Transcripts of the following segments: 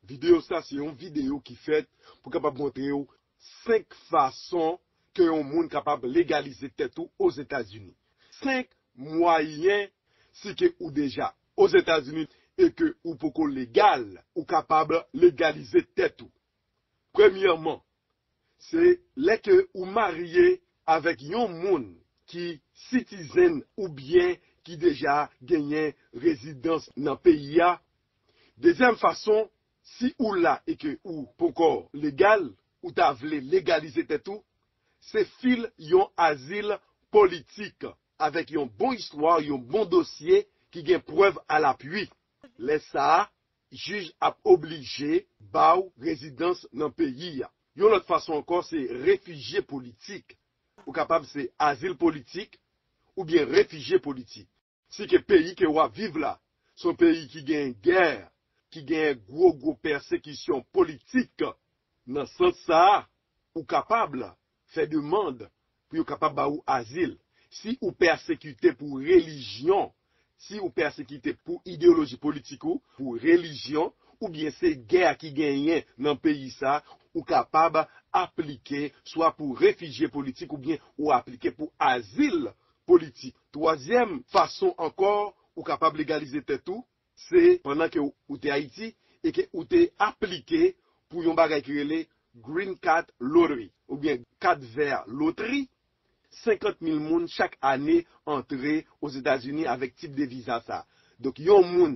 Videyo sa se yon videyo ki fèt pou kapab montre w 5 fason ke yon moun kapab legalize tèt ou Ozetazini. 5 mwayen si ke ou deja Ozetazini e ke ou poko legal, ou kapab legalize tèt ou. Premyèman, se lè ke ou marye avèk yon moun ki sitizen oubyen ki deja genyen rezidans nan peyi a Dezyèm fason, si ou la e ke ou ponkò legal, ou ta vle legalize tèt ou, se fil yon azil politik avèk yon bon istwa, yon bon dosye ki gen prèv alapui. Lè sa a, jij ap oblije ba ou rezidans nan peyi a. Yon lòt fason ankò se refijye politik. Ou kapab se azil politik oubyen refijye politik. Si ke peyi ke wap viv la se yon peyi ki genyen gè, ki genyen gwo gwo pèsekisyon politik, nan sans sa a, ou kapab fè demand pou yo kapab ba ou azil. Si ou pèsekite pou relijyon, si ou pèsekite pou ideyoloji politik ou, pou relijyon, oubyen se gè ki genyen nan peyi sa, ou kapab aplike swa pou refijye politik oubyen ou aplike pou azil politik. Twazyèm fason ankò ou kapab legalize tèt ou, se pandan ke ou te Ayiti e ke ou te aplike pou yon bagay ki rele Green Card Lottery oubyen Kat Vè Lotri, 50 mil moun chak ane antre Ozetazini avèk tip de viza sa. Donk yon moun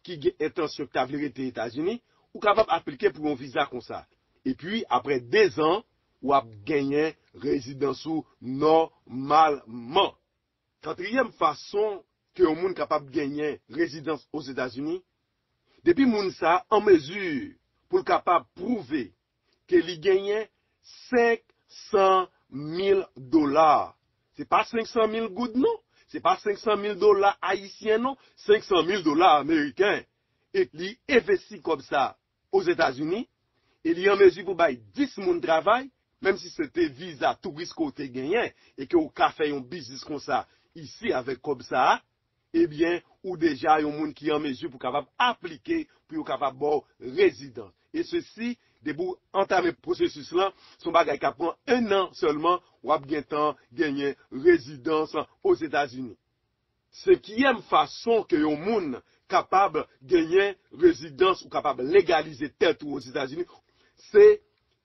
ki gen entansyon ki ta vle rete Etazini, ou kapab aplike pou yon viza konsa. Epi aprè dezan W ap genyen rezidans ou nòmalman. Katriyèm fason ke yon moun kapab genyen rezidans Ozetazini, depi moun sa a an mezi pou l kapab pwouve ke li genyen 500 mil dola, se pa 500 mil goud non, se pa 500 mil dola ayisyen non, 500 mil dola ameriken, e li envesti kòb sa a. Ozetazini e li an mezi pou bay 10 moun travay, menm si se te viza touris ke w te genyen e ke w ka fè yon biznis konsa isi avèk kòb sa a, ebyen ou deja yon moun ki an mezi pou kapab aplike pou yo kapab ba w rezidans. E sesi, depi w antame pwosesis lan, se yon bagay k ap pran 1 an sèlman, w ap gentan genyen rezidans Ozetazini. Senkyèm fason ke yon moun kapab genyen rezidans ou kapab legalize tèt ou Ozetazini, se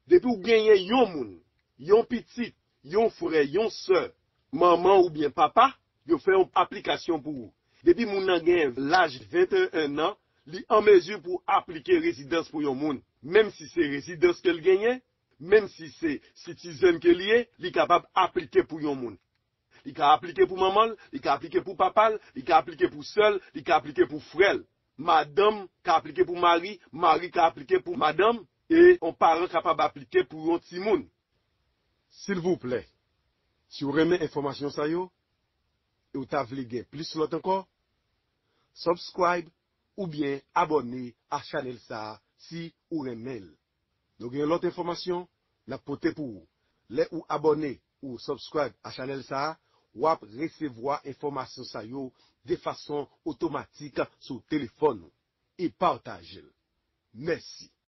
depi ou genyen yon moun, yon pitit, yon frè, yon sè, manman oubyen papa, yo fè yon aplikasyon pou ou. Depi moun nan genyen laj 21 nan, li an mezi pou aplike rezidans pou yon moun. Menm si se rezidans ke l genyen, menm si se sitizèn ke li ye, li kapab aplike pou yon moun. Li ka aplike pou manman l, li ka aplike pou papa l, li ka aplike pou sè l, li ka aplike pou frè l. Madanm ka aplike pou mari, mari ka aplike pou madanm, e yon paran kapab aplike pou yon timoun. Silvouplè, si w renmen enfòmasyon sa yo e w ta vle gen plis lòt ankò, subscribe oubyen abòne a chanèl sa si ou renmen l. Nou gen lòt enfòmasyon nap pote pou ou. Lè ou abòne ou subscribe a chanèl sa a, wap resevwa enfòmasyon sa yo de fason otomatik sou telefòn ou. E patajel. Mèsi.